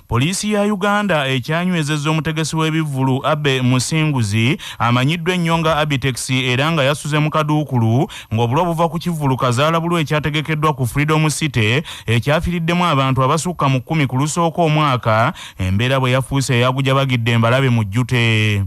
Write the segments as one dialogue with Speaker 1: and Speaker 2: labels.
Speaker 1: Poliisi ya Uganda ekyanywezezza omutegesi w'ebivvulu Abe Musinguzi amanyiddwa ennyo nga Abitex era nga yasuze mu kaduukulu ng'obulwa buva ku kivvulu kazaalabulu ekyategekeddwa ku Freedom City ekyafiriddemu abantu abasukka mu kkumi ku lusooka omwaka embeera bwe yafuuse eyagujabagidde embalabe mu jjute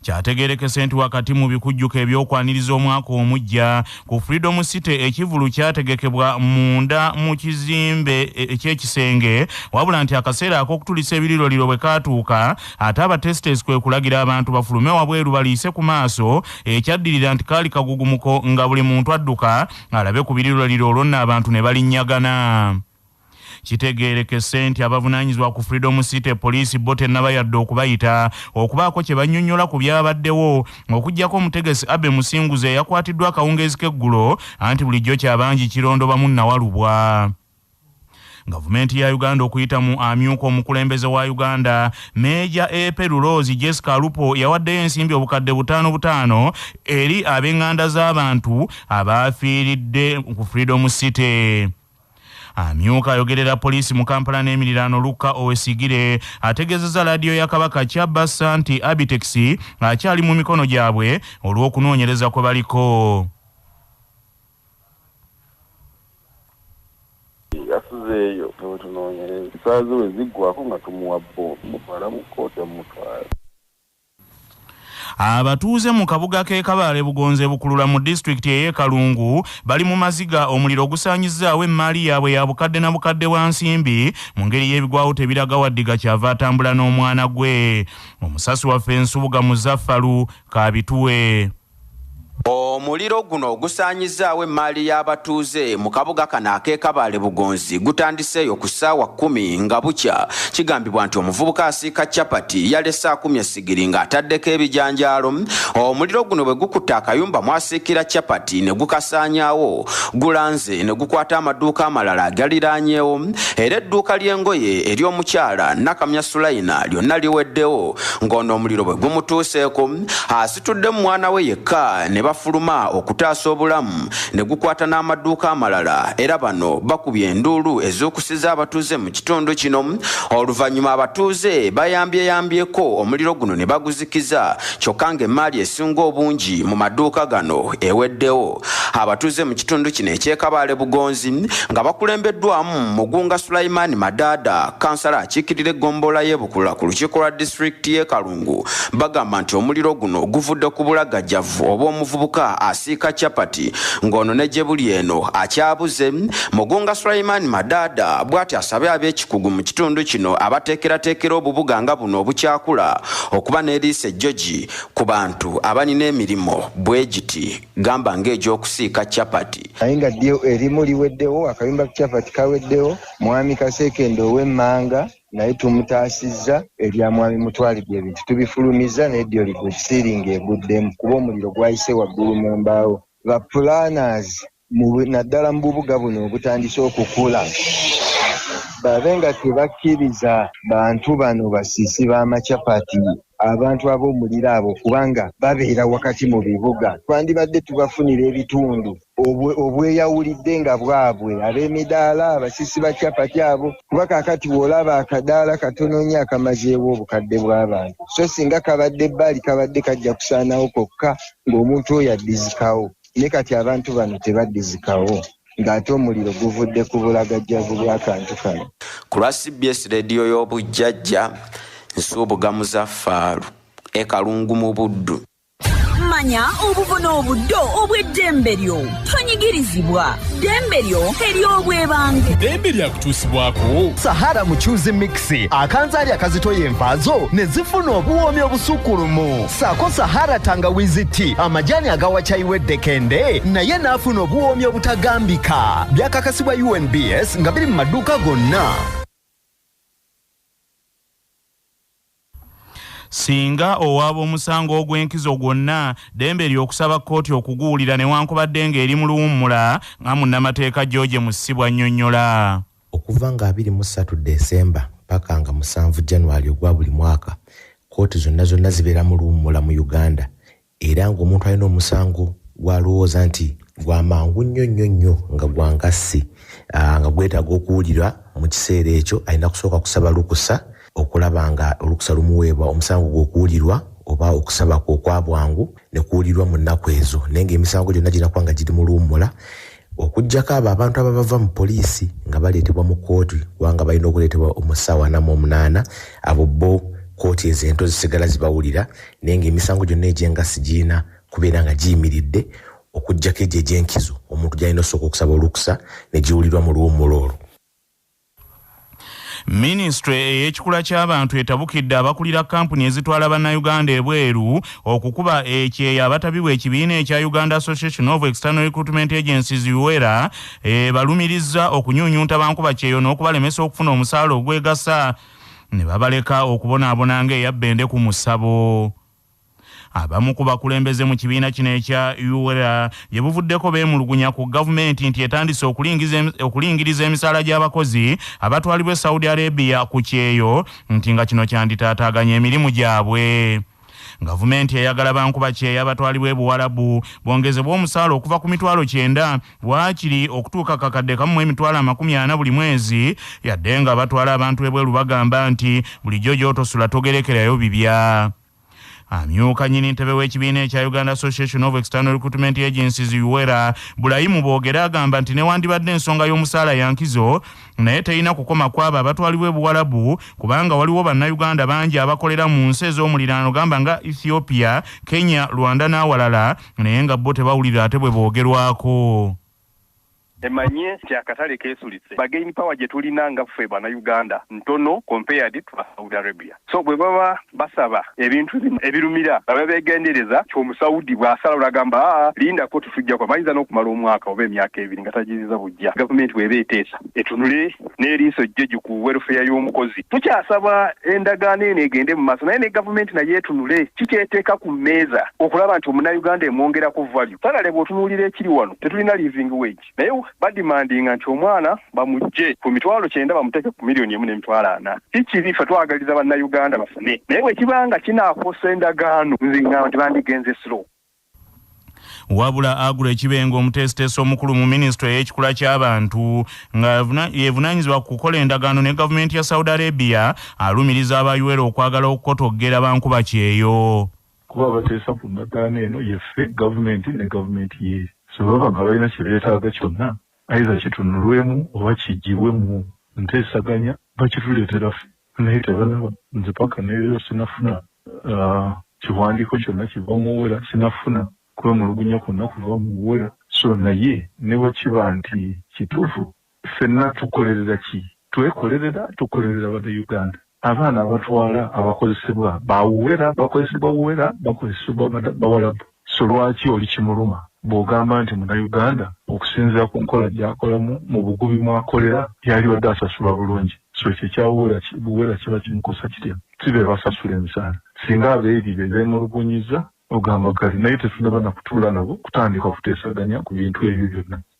Speaker 1: kyategerekese nti wakati mu bikujjuko ebyokwaniriza omwaka omujja ku freedom city ekivulu kyategekebwa munda mu kizimbe e, ekyekisenge wabula nti akaseera ak'okutulisa ebiriroliro bwe kaatuuka ate abatestes kwe kulagira abantu bafulume wabweru baliise ku maaso ekyaddirira nti kaali kagugumuko nga buli muntu adduka alabe ku biriroliro olwo nno abantu ne balinyagana Kitegeerekese nti abavunaanyizibwa ku Freedom City poliisi bo tennaba yadde okubayita okubaako kye bannyonnyola ku byabaddewo okuggyako omutegesi Abbey Musinguzi eyakwatiddwa akawungeezi k'eggulo anti bulijjo kya bangi kirondobamu nnawalubwa. Gavumenti ya Uganda okuyita mu amyuka omukulembeze wa Uganda Meeja Epe Luloozi Jessica Alupo yawaddeyo ensimbi obukadde butaano butaano eri ab'enganda z'abantu abaafiiridde ku Freedom City. amyuka ayogerera poliisi mu kampala n'emiriraano lukka owesigire ategeezezza laadiyo ya kabaka kyabassa nti abitex akyali mu mikono gyabwe olw'okunoonyereza kwe baliko
Speaker 2: yasuzeeyo ewetunoonyereza saaziwe ziggwako nga tumuwa bbo mutwala mu kkooti omutwala
Speaker 1: Abatuuze mu kabuga k'e Kabaale Bugonza e Bukulula mu disitulikiti ey'e Kalungu bali mu maziga omuliro ogusaanyizzaawo emmaali yaabwe ya bukadde na bukadde bwa nsimbi mu ngeri y'ebigwawo tebiraga Waddiga kyava atambula n'omwana gwe. Omusasi waffe Nsubuga Muzaffalu k'abituwe.
Speaker 3: Omuliro guno ogusaanyizzaawo emmaali y'abatuuze mu kabuga kano ak'e Kabale Bugonzi gutandiseeyo ku ssaawa kkumi nga bukya. Kigambibwa nti omuvubuka asiika chapati yalese akumye ssigiri ng'ataddeko ebijanjaalo. Omuliro guno bwe gukutte akayumba mw'asiikira chapati ne gukasaanyaawo, gulanze ne gukwata amaduuka amalala agaliraanyeewo era edduuka ly'engoye ery'omukyala Nakamya Sulaina lyonna liweddewo ng'ono omuliro bwe gumutuuseeko asitudde mu mwana we yekka ne bafuluma okutaasa obulamu ne gukwata n'amaduuka amalala era bano bakubye enduulu ezuukusiza abatuuze mu kitundu kino oluvannyuma abatuuze bayambyeyambyeko omuliro guno ne baguzikiza kyokka ng'emmaali esinga obungi mu maduuka gano eweddewo abatuuze mu kitundu kino ekyekabaale bugonzi nga bakulembeddwamu mugunga sulayimaani madaada kansala akiikirira eggombolola y'ebukula ku lukiiko lwa disitulikiti y'e kalungu Kazungu bagamba nti omuliro guno guvudde ku bulagajjavu oba omuvubuka asiika capati ng'ono ne gye buli eno akyabuze Mugunga Sulaiman Madaada bw'ati asabye ab'ekikugu mu kitundu kino abateekerateekera obubuga nga buno obukyakula okuba n'eriisa ejjogi ku bantu abalina emirimu bwe giti gamba ng'egy'okusiika capati naye nga ddyo
Speaker 4: erimu liweddewo akayumba capati kaweddewo mwami kaseekende ow'emmanga naye tumutaasizza ebya mwami Mutwalibwa ebintu tubifulumizza naye ddyo ligwe siringi eguddemu kuba omuliro gwayise waggulu mu mbaawo ba planners naddala mu bubuga buno obutandise okukula babe nga tebakkiriza bantu bano basiisi b'amacapati abantu ab'omuliro abo kubanga babeera wakati mu bibuga twandibadde tubafunira ebitundu obweyawulidde nga bwabwe ab'emidaala abasisi ba capati abo kuba kakati w'olaba akadaala katono nnyo akamazeewo obukadde bw'abantu so singa kabadde bbaali kabadde kajja kusaanawo kokka ng'omuntu oyo addizikawo ne kati abantu bano tebaddizikawo ng'ate omuliro guvudde ku bulagajjavu bw'akantu kano ku lwa cbs
Speaker 3: leediyo y'obujjajja nsuubuga muzaffaalu e kalungu mu buddu manya
Speaker 5: obubona obuddo obw'eddembe lyo tonyigirizibwa ddembe lyo ery'obwebange ddembe
Speaker 6: lyakutuusibwako sahara mucuzi
Speaker 7: mixi akanzaali akazitoya envaazo ne zifuna obuwoomi obusukkulumu saako sahara tangawizi ti amajaani agawacayiwa eddekende naye n'afuna obuwoomi obutagambika byakakasibwa unbs nga biri mu maduuka gonna
Speaker 1: Singa owaaba omusango ogw'enkizo gwonna, ddembe lyo okusaba kkooti okuguwulira newankubadde ng'eri mu luwummula, nga munnamateeka George Musisi bw'annyonnyola. Okuva nga
Speaker 8: abiri mu ssatu December ppaka nga musanvu January ogwa buli mwaka, kkooti zonna zonna zibeera mu luwummula mu Uganda. era ng'omuntu alina omusango gw'alowooza nti gwa mangu nnyo nnyo nnyo nga gwa ngassi ah, nga gwetaaga okuwulirwa mu kiseera ekyo alina kusooka kusaba lukusa okulaba nga olukusa lumuweebwa omusango gw'okuwulirwa oba okusaba kwe okwa bwangu ne kuwulirwa mu nnaku ezo naye ng'emisango gyonna ginakuba nga giri mu luwummula Okuggyako abo abantu ababava mu poliisi nga baleetebwa mu kkooti kubanga balina okuleetebwa mu ssaawa ana mu omunaana, abo bo kkooti ezo ento zisigala zibawulira naye ng'emisango gyonna egy'engassi girina kubeera nga giyimiridde okuggyako egyo egy'enkizo omuntu gy'alina osooka okusaba olukusa ne giwulirwa mu luwummula olwo.
Speaker 1: Minisitule ey'ekikula ky'abantu etabukidde abakulira kkampuni ezitwala Bannayuganda ebweru okukuba ekyeyo abatabi bw'ekibiina ekya Uganda Association of External Recruitment Agencies, UERA, ebalumirizza okunyunyunta bankuba kyeyo n'okubalemesa okufuna omusaala ogwegasa ne babaleka okubonaabona ng'eya bbende ku musabo. Abamu ku bakulembeze mu kibiina kino ekya UWERA gye buvuddeko beemulugunya ku gavumenti nti etandise okulingiriza emisaala gy'abakozi abatwalibwa e Saudi Arabia ku kyeyo nti nga kino kyanditaataaganya emirimu gyabwe. Gavumenti eyagala bankuba kyeya batwalibwa e Buwalabu bongezebwa omusaala okuva ku mitwalo kyenda waakiri okutuuka kakadde kamu emitwalo amakumi ana buli mwezi yadde nga batwala abantu ebweru bagamba nti bulijjo gy'otosula togerekerayo bibya amyuka nyini ntebe w'ekibiina ekya uganda association of external recruitment agencies uwera bulayimu boogere agamba nti newandibadde ensonga y'omusaala yankizo naye terina kukoma kwabo abatwalibwa ebuwalabu kubanga waliwo bannayuganda bangi abakolera mu nsi ez'omuliraano gamba nga ethiopia kenya rwanda n'awalala naye nga bo tebawulira ate bwe boogerwako.
Speaker 9: Emanye nti akatale keesulitse. Bargain power gye tulina nga ffe Bannayuganda ntono compared to Saudi Arabia. So bwe baba basaba ebintu bino ebirumira babe beegendereza nti Omusaudi bw'asalawo n'agamba aa lindako tetujja kuba bayinza n'okumala omwaka oba emyaka ebiri nga tagirizza buggya gavumenti bw'eba eteesa. etunule n'eriiso jjeju ku welfare y'omukozi tukyasaba endagaano eno egende mu maaso naye ne gavumenti naye etunule kikyeteeka ku mmeeza okulaba nti omunayuganda emwongerako value salale bw'otunuulira ekiri wano tetulina living wage naye badimandinga nti omwana bamujje ku mitwalo kyenda bamuteeke ku miliyoni emu n'emitwalo ana si kibi ffe twagaliza bannayuganda bafune naye bwe kiba nga kinaakosa endagaano nze ngamba nti bandigenze slow
Speaker 1: wabula agula ekibenga omuteesiteesi omukulu mu minisitule ey'ekikula ky'abantu nga yevunaanyizibwa ku kukola endagaano ne gavumenti ya saudi arabia alumiriza abayuwera okwagala okukotoggera bankuba kyeyo kuba abateesa
Speaker 10: ku ndagaano eno yeffe gavumenti ne gavumenti ye sebaba nga balina kye beetaaga kyonna ayiza kitunulwemu oba kiggyibwe mu nteesaganya bakituleetera ffe naye tebalaba nze paka neero sinafuna ah, kiwandiiko kyonna kiva muwera sinafuna kwemulugunya kwonna kuva muwera so naye newakiba nti kituufu fenna tukolerera ki twekolerera tukolerera bana uganda abaana abatwala abakozesebwa bawuwera bakozesebwa wuwera bakozesebwa bawalabu So lwaki oli kimuluma bw'ogamba nti Munnayuganda okusinziira ku nkola gy'akolamu mu bugubi mw'akolera yalibadde asasulwa bulungi? So ekyo ekya Buwera kiba kimukosa kitya? Si be basasula emisaala? Singa abeebye be beemulugunyizza ogamba kale. Naye tetunnaba na kutuula nabo kutandika kuteesaganya ku bintu ebyo byonna.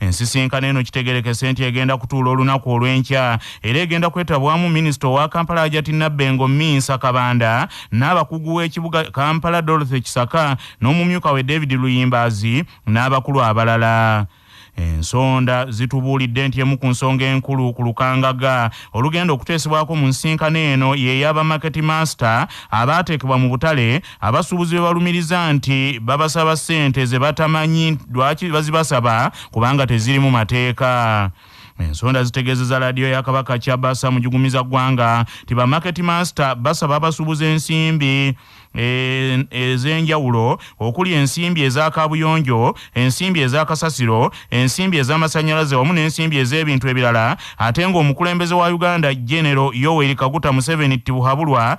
Speaker 1: Ensisinkano eno kitegerekese nti egenda kutuula olunaku olw'enkya era egenda kwetabwamu minisita owa Kampala Ajati Nabbengo Minsa Kabanda n'abakugu w'ekibuga Kampala Dorothy Kisaka n'omumyuka we David Luyimbaazi n'abakulu abalala. Ensonda zitubuulidde nti emu ku nsonga enkulu ku lukangaga olugenda okuteesebwako mu nsisinkano eno y'eya ba Market Master abaateekebwa mu butale Abasuubuzi be balumiriza nti babasaba ssente ze batamanyi lwaki bazibasaba kubanga tezirimu mateeka. Ensonda zitegeezeza laadiyo ya Kabaka Kyabasa mujugumiza ggwanga nti ba market master basaba abasuubuza ensimbi e, ez'enjawulo okuli ensimbi eza kaabuyonjo ensimbi eza kasasiro ensimbi ez'amasannyalaze wamu n'ensimbi ez'ebintu ebirala ate ng'omukulembeze wa uganda genero yoweri kaguta museveni tibuhabulwa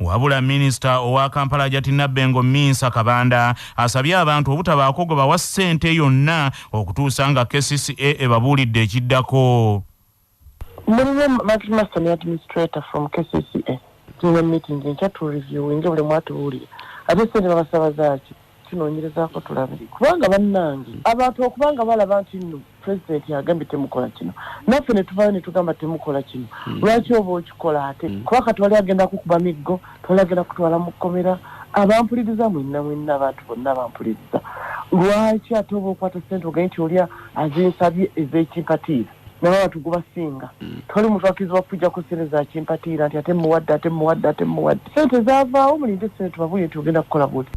Speaker 1: Wabula minisita owa Kampala Ajati Nabbengo Minsa Kabanda asabye abantu obutabaako gwe bawa ssente yonna okutuusa nga kcca ebabuulidde ekiddako.
Speaker 11: Mulimu Max Master ne administrator from kcca tulina meeting enkya tu reviewinge buli omu atubuulire ate ssente babasaba zaaki. tunonyerezako tulabe kubanga bannange abantu okuba nga balaba nti nno pulezidenti agambye temukola kino naffe netuvayo netugamba temukola kino hmm. lwaki oba okikola ate hmm. kuba kati wali agenda kukuba miggo twali agenda kutwala mu kkomera abampuliriza mwenna mwenna abantu bonna bampuliriza lwaki ate oba okwata sente ogaye nti olya azinsabye ez'ekimpatiira naye abantu gubasinga mm. toli muntu akiziba kuja ku sente za kimpatiira nti ate muwadde ate muwadde ate muwadde sente zavaawo mulinde sente tubabuye nti ogenda kukola buti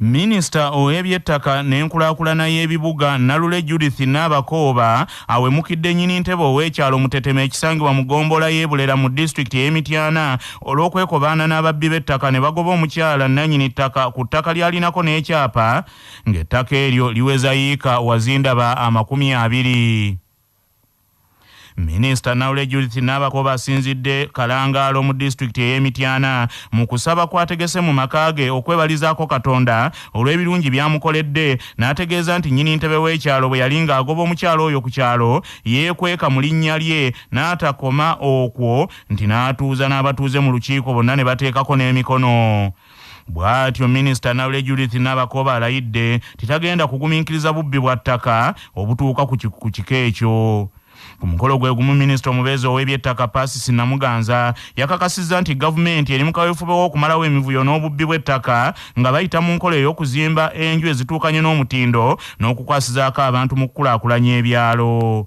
Speaker 1: minisita ow'ebyettaka n'enkulaakulana y'ebibuga nalule judith naabakooba awemukidde nyini ntebe ow'ekyalo mutetema ekisangibwa mu ggombolola y'ebulera mu disitulikiti ey'emityana olw'okwekobaana n'ababbi b'ettaka ne bagoba omukyala nnanyini ttaka ku ttaka lyalinako n'ekyapa ng'ettaka eryo liweza yiika wazindaba amakumi abiri. Minisita Naule Judith Nabakooba asinzidde Kalangaalo mu disitulikiti ey'e Mityana mu kusaba kw'ategese mu maka ge okwebalizaako Katonda olw'ebirungi by'amukoledde n'ategeeza nti nnyini ntebe w'ekyalo bwe yali ng'agoba omukyala oyo ku kyalo yeekweka mu linnya lye n'atakoma okwo nti n'atuuza n'abatuuze mu lukiiko bonna ne bateekako n'emikono Bwatyo Minisita Naule Judith Nabakooba alayidde nti tagenda kuguminkiriza bubbi bwa ttaka obutuuka ku kika ekyo. Ku mukolo gwe gumu minisita omubeezi ow'ebyettaka Pasis Namuganza yakakasizza nti gavumenti eri mu kaweefube w'okumalawo emivuyo n'obubbi bw'ettaka nga bayita mu nkola ey'okuzimba enju ezituukanye n'omutindo n'okukwasizaako abantu mu kukulaakulanya ebyalo.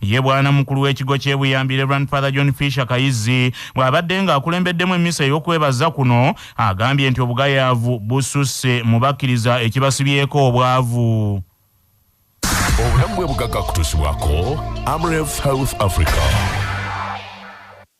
Speaker 1: Ye bwana mukulu w'ekigo ky'e Buyambi Reverend Father John Fisher Kayizzi bw'abadde ng'akulembeddemu emmisa ey'okwebaza kuno agambye nti obugayaavu bususse mu bakkiriza ekibasibyeko obwavu.
Speaker 6: Obulamu bw'obugagga kutuusibwako Amref Health Africa.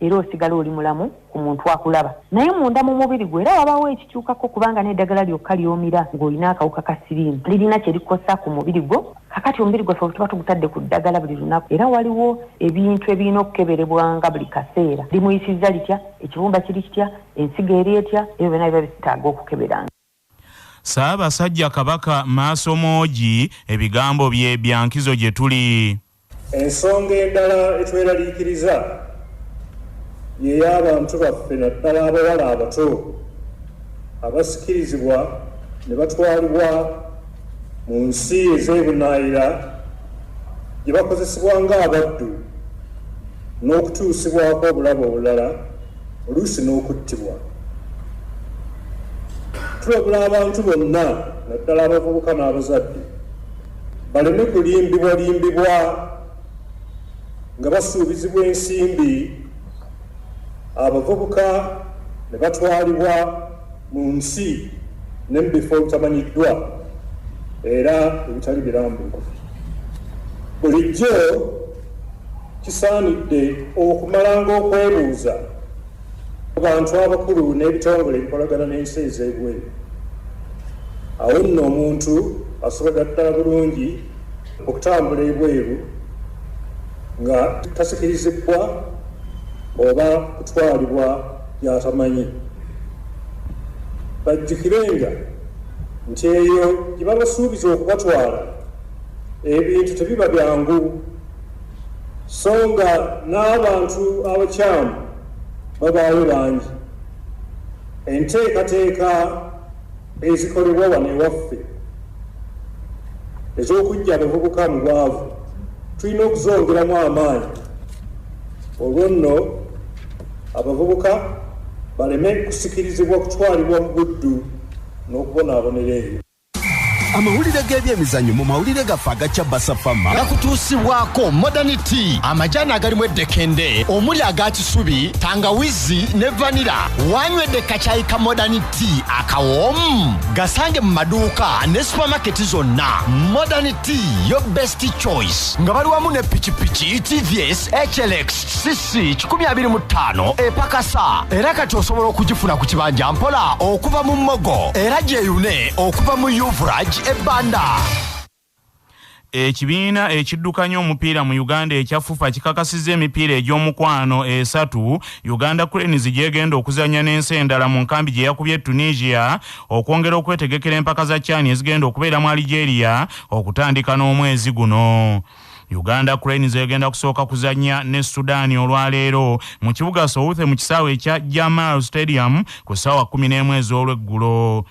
Speaker 12: era osigala oli mulamu ku muntu akulaba naye munda mu mubiri gwe era wabawo ekikyukako kubanga n'eddagala lyokka lyomira ng'olina akawuka ka siriimu lirina kye likosa ku mubiri gwo kakati omubiri gwaffe bwetuba tugutadde ku ddagala buli lunaku era waliwo ebintu ebirina okukeberebwanga buli kaseera limuyisizza litya ekibumba kiri kitya ensigo eri etya ebyo byona biba bitaaga okukeberanga
Speaker 1: Ssaabasajja Kabaka Maasomoogi ebigambo bye bya nkizo gye tuli. Ensonga
Speaker 13: endala etweraliikiriza ye y'abantu baffe naddala abawala abato abasikirizibwa ne batwalibwa Mu nsi ez'ebunaayira gye bakozesebwa ng'abaddu n'okutuusibwako obulabe obulala oluusi n'okuttibwa. Tulabula abantu bonna naddala abavubuka n'abazadde baleme kulimbibwalimbibwa nga basuubizibwa ensimbi abavubuka ne batwalibwa mu nsi ne mu bifo ebitamanyiddwa era ebitali birambulukufu. Bulijjo kisaanidde okumalanga okwebuuza ku bantu abakulu n'ebitongole ebikolagana n'ensi ez'ebweru. Awo nno omuntu asobola ddala bulungi okutambula ebweru nga tasikirizibbwa oba kutwalibwa gy'atamanyi. Bajjukirenga nti eyo gye babasuubiza okubatwala ebintu tebiba byangu so nga n'abantu abakyamu babaayo bangi enteekateeka ezikolebwa wano ewaffe ez'okuggya abavubuka mu bwavu tulina okuzongeramu amaanyi olwo nno abavubuka baleme kusikirizibwa kutwalibwa mu buddu n'okubonaabonera eyo amawulire
Speaker 7: g'ebyemizannyo mu mawulire gaffe aga cabasa fama gakutuusibwako modern tea amajaani agalimu eddekende omuli aga kisubi tangawizi ne vanira wanywedde kacayika modern tea akawoomu gasange mu maduuka ne supamaketi zonna modern tea yo best choice nga bali wamu ne pikipiki tvs hlx cc 25 epakasa era kati osobola okugifuna ku kibanja mpola okuva mu mogo era gyeyune okuva mu uvrage ebanda
Speaker 1: Ekibiina ekiddukanya omupiira mu Uganda ekya FUFA kikakasizza emipiira egy'omukwano esatu Uganda Cranes gy'egenda okuzannya n'ensi endala mu nkambi gye yakubye e Tunisia okwongera okwetegekera empaka za CHAN ezigenda okubeera mu Algeria okutandika n'omwezi guno. Uganda Cranes egenda kusooka kuzannya ne Sudan olwaleero mu kibuga Southe mu kisaawe ekya Jamal Stadium ku ssaawa kkumi n'emu ez'olweggulo.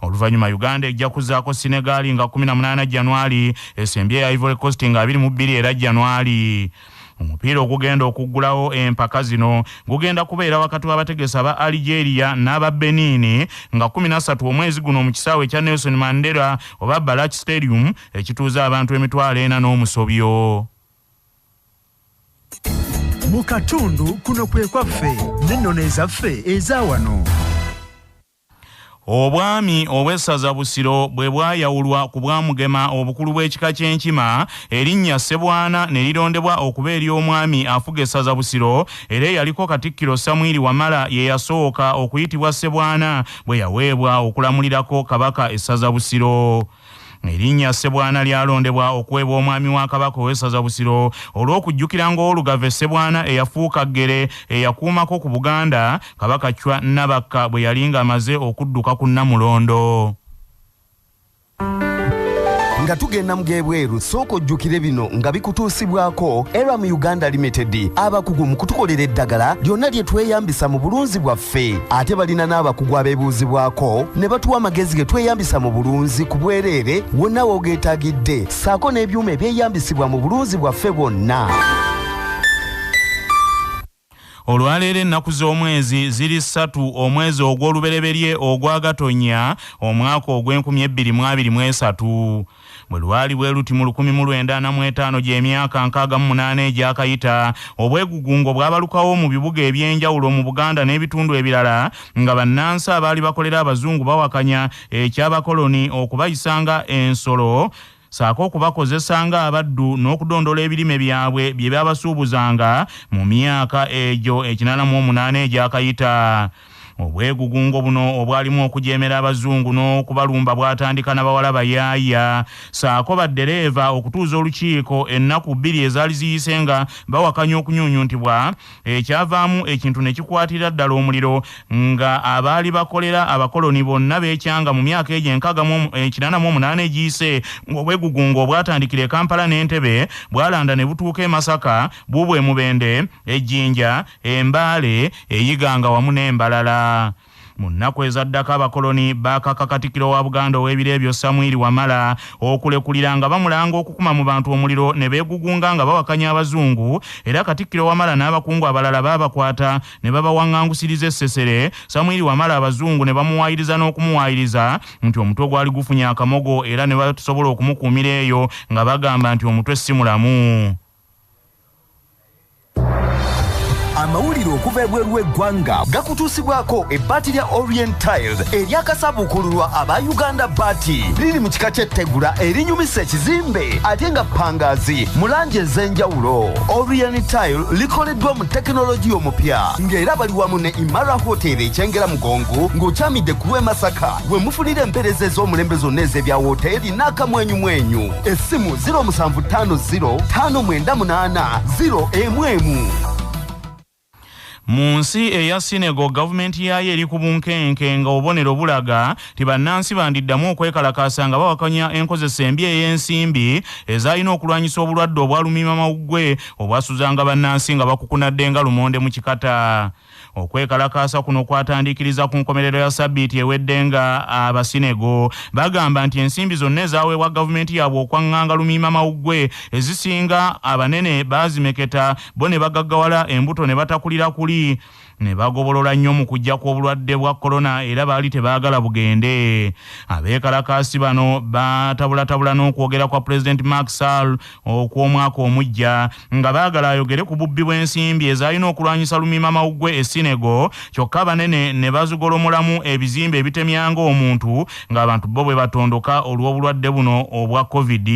Speaker 1: Oluvannyuma Uganda ejja kuzzaako Senegal nga kumi na munaana Janwali, esembye eya Ivory Coast nga abiri mu bbiri era Janwali. Omupiira ogugenda okuggulawo empaka zino gugenda kubeera wakati w'abategesi aba Algeria n'aba Benin nga kkumi na ssatu omwezi guno mu kisaawe ekya Nelson Mandela oba Balach Stadium ekituuza abantu emitwalo ena n'omusobyo.
Speaker 14: Mu katundu kuno kwe kwaffe n'ennono ezaffe eza wano.
Speaker 1: Obwami obw'essaza Busiro bwe bwayawulwa ku bwa Mugema obukulu bw'ekika ky'Enkima, erinnya Ssebwana ne lirondebwa okuba ery'omwami afuga essaza Busiro era eyaliko Katikkiro Samwiri Wamala ye yasooka okuyitibwa Ssebwana bwe yaweebwa okulamulirako Kabaka essaza Busiro. Erinnya Ssebwana lyalondebwa okuweebwa omwami wa Kabaka ow'essaza Busiro olw'okujjukira ng'Olugave Ssebwana eyafuuka Ggere eyakuumako ku Buganda Kabaka Chwa Nabakka bwe yali ng'amaze okudduka ku Nnamulondo.
Speaker 7: nga tugenda mu g'ebweru sooka ojjukire bino nga bikutuusibwako era mu uganda limited abakugu mu kutukolera eddagala lyonna lye tweyambisa mu bulunzi bwaffe baffe ate balina n'abakugu abeebuuzibwako ne batuwa amagezi ge tweyambisa mu bulunzi ku bwereere wonna woogeetagidde ssaako n'ebyuma ebyeyambisibwa mu bulunzi bwaffe bwonna
Speaker 1: olwaleero ennaku z'omwezi ziri ssatu omwezi ogw'olubereberye ogwa gatonya omwaka ogw'enkumi ebbiri mu abiri mu esatu Bwe lwali bwe luti mu lukumi mu lwenda ana mu etaano gy'emyaka nkaaga mu munaana egyakayita, obwegugungo bwabalukawo mu bibuga eby'enjawulo mu Buganda n'ebitundu ebirala nga bannansi abaali bakolera Abazungu bawakanya eky'abakoloni okubayisa nga ensolo saako okubakozesa nga abaddu n'okudondola ebirime byabwe bye babasuubuzanga mu myaka egyo ekinaana mu omunaana egyakayita. obwegugungo buno obwalimu okujeemera abazungu n'okubalumba bwatandika na bawala bayaaya saako baddereeva okutuuza olukiiko ennaku bbiri ezaali ziyise nga bawakanya okunyunyuntibwa ekyavaamu ekintu ne kikwatira ddala omuliro nga abaali bakolera abakoloni bonna beekyanga mu myaka egyo enkaaga mu ekinana mu omunaana egiyise ng'obwegugungo obwatandikira e kampala n'entebe bwalanda ne butuuka e masaka bubwe mubende e Jinja, e Mbale, e Iganga wamu n'embalala. Mu nnaku ezaddako abakoloni baakaka Katikkiro wa Buganda ow'ebiro ebyo Samwiri Wamala okulekulira nga bamulanga okukuma mu bantu omuliro ne beegugunga nga bawakanya abazungu era Katikkiro Wamala n'abakungu abalala baabakwata ne babawangangusiriza e Ssesere Samwiri Wamala abazungu ne bamuwaayiriza n'okumuwaayiriza nti omutwe gwali gufunye akamogo era ne batasobola okumukuumira eyo nga bagamba nti omutwe si mulamu.
Speaker 7: amawulire okuva ebweru w'eggwanga gakutuusibwako ebbaati lya orient tiles eryakasabuukululwa aba uganda baati liri mu kika ky'ettegula erinyumisa ekizimbe ate nga pangaazi mu langi ez'enjawulo orient tile likoleddwa mu tekinologiya omupya ng'era bali wamu ne imara hotel ekyengera mugongo ng'okyamidde ku lw'e masaka we mufunira empeereza ez'omulembe zonna ez'ebya wooteeri n'akamwenyumwenyu essimu 07505980 emu emu
Speaker 1: mu nsi eya sinego gavumenti yaayo eri ku bunkenke nga obubonero bulaga nti bannansi bandiddamu okwekalakaasa nga bawakanya enkozesa embi ey'ensimbi ezaalina okulwanyisa obulwadde obwalumima mawuggwe obwasuzanga bannansi nga bakukunadde nga lumonde mu kikata Okwekalakaasa kuno kwatandikiriza ku nkomerero ya sabbiiti ewedde nga Abasinego bagamba nti ensimbi zonna ezaweebwa gavumenti yaabwe okwang'anga lumiima mawuggwe ezisinga abanene baazimeketa bo ne bagaggawala embuto ne batakulira kuli ne bagobolola nnyo mu kujja kw'obulwadde bwa kolona era baali tebaagala bugende. Abeekalakaasi bano baatabulatabula n'okwogera kwa Pulezidenti Macky Sall okw'omwaka omuggya. nga baagala ayogere ku bubbi bw'ensimbi ezaalina okulwanyisa lumiima mawuggwe e Sinego kyokka banene ne bazigolomolamu ebizimbe ebitemyanga omuntu ng'abantu bo bwe batondoka olw'obulwadde buno obwa covid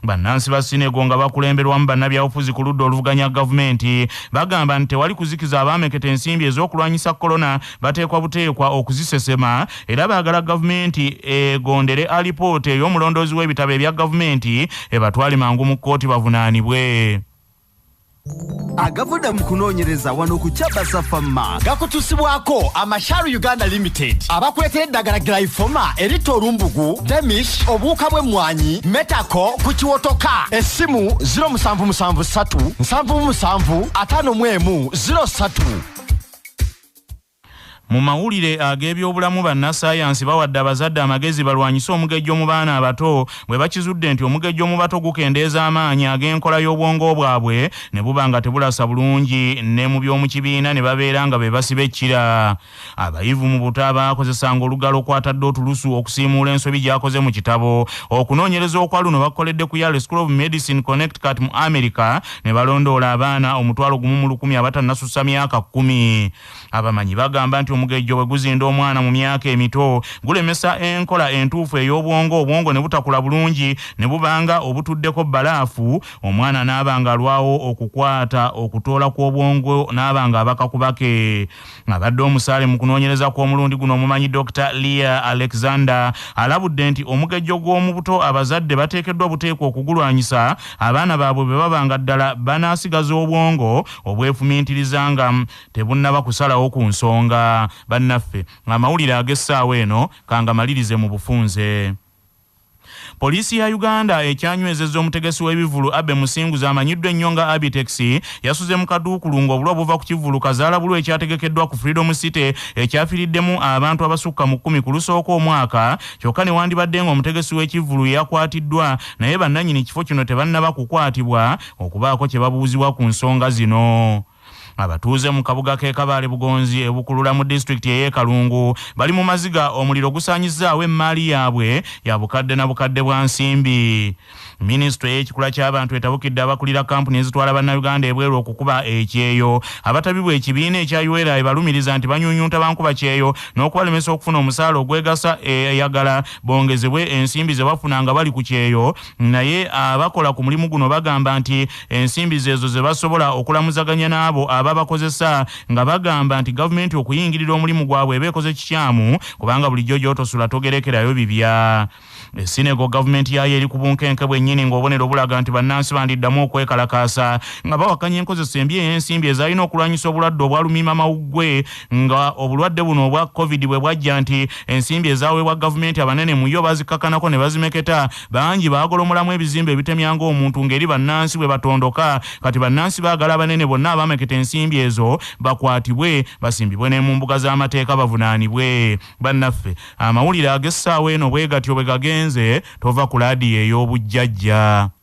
Speaker 1: bannansi ba Sinego nga bakulemberwamu bannabyabufuzi ku ludda oluvuganya gavumenti bagamba nti tewali kuzikiza abaameketa ensimbi ez'okulwanyisa kolona bateekwa buteekwa okuzisesema era baagala gavumenti egondere alipoota ey'omulondoozi w'ebitabo ebya gavumenti ebatwale mangu mu kkooti bavunaanibwe
Speaker 7: agavudde mu kunoonyereza wano ku kyabasa fama gakutusibwako amashar uganda limited abakuleetera eddagala glyfoma eritta olumbugu demish obuwuka bw'emmwanyi metako ku kiwotoka essimu 0773 77 5 mu emu 03
Speaker 1: Mu mawulire ag'ebyobulamu bannassaayansi bawadde abazadde amagezi balwanyise omugejjo mu baana abato bwe bakizudde nti omugejjo mu bato gukendeeza amaanyi ag'enkola y'obwongo bwabwe ne buba nga tebulasa bulungi ne mu by'omu kibiina ne babeera nga be basiba ekkira. Abayivu mu buto abaakozesanga olugalo kwatadde otulusu okusiimuula ensobi gy'akoze mu kitabo. Okunoonyereza okwa luno bakukoledde ku Yale School of Medicine Connecticut mu Amerika ne balondoola abaana omutwalo gumu mu lukumi abatannasussa myaka kkumi. Abamanyi bagamba nti omugejjo bwe guzinda omwana mu myaka emito gulemesa enkola entuufu ey'obwongo obwongo ne butakula bulungi ne bubanga obutuddeko bbalaafu omwana n'aba ng'alwawo okukwata okutoola kw'obwongo n'aba ng'abaka kubake. Ng'abadde omusaale mu kunoonyereza kw'omulundi guno omumanyi Dokita Leah Alexander alabudde nti omugejjo gw'omu buto abazadde bateekeddwa buteekwa okugulwanyisa abaana baabwe bwe baba nga ddala banaasigaza obwongo obwefumiitiriza nga tebunnaba kusalawo ku nsonga. Bannaffe, amawulire ag'essaawa eno kangamalirize mu bufunze. Poliisi ya Uganda ekyanywezeza omutegesi w'ebivvulu Abbey Musinguzi amanyiddwa ennyo nga Abitex yasuze mu kaduukulu ng'obulwa buva ku kivvulu kazaala bulwa ekyategekeddwa ku Freedom City ekyafiriddemu abantu abasukka mu kkumi ku lusooka omwaka kyokka ne wandibadde ng'omutegesi w'ekivvulu yakwatiddwa naye bannannyini kifo kino tebannaba kukwatibwa okubaako kye babuuzibwa ku nsonga zino. Abatuuze mu kabuga k'e Kabaale Bugonzi e Bukulula mu disitulikiti ey'e Kalungu bali mu maziga omuliro gusaanyizzaawo emmaali yaabwe ya bukadde na bukadde bwa nsimbi. Minisitule y'ekikula ky'abantu etabukidde abakulira kkampuni ezitwala Bannayuganda ebweru okukuba ekyeyo. Abatabibwa ekibiina ekya UERA ebalumiriza nti banyunyunta bankuba kyeyo n'okubalemesa okufuna omusaala ogwegasa eyagala bongezebwe ensimbi ze bafuna nga bali ku kyeyo. Naye abakola ku mulimu guno bagamba nti ensimbi zeezo ze basobola okulamuzaganya n'abo ababakozesa nga bagamba nti gavumenti okuyingirira omulimu gwabwe eba ekoze kikyamu kubanga bulijjo gy'otosula togerekerayo bibya esinego gavumenti yaayo eri ku bunkenke bwennyini ng'obonero bulaga nti bannansi bandiddamu okwekalakaasa nga bawakanya enkozesa embi ey'ensimbi ezaalina okulwanyisa obulwadde obwalumima mawuggwe nga obulwadde buno obwa covid bwe bwajja nti ensimbi ezaweebwa gavumenti abanene mu yo bazikakanako ne bazimeketa bangi baagolomolamu ebizimbe ebitemya ng'omuntu ng'eri bannansi bwe batondoka kati bannansi baagala abanene bonna abaameketa ensimbi ezo bakwatibwe basimbibwe ne mu mbuga z'amateeka bavunaanibwe bannaffe amawulire ag'essaawa eno bwe gatyo bwe gagenze tova ku laadiyo ey'obujjajja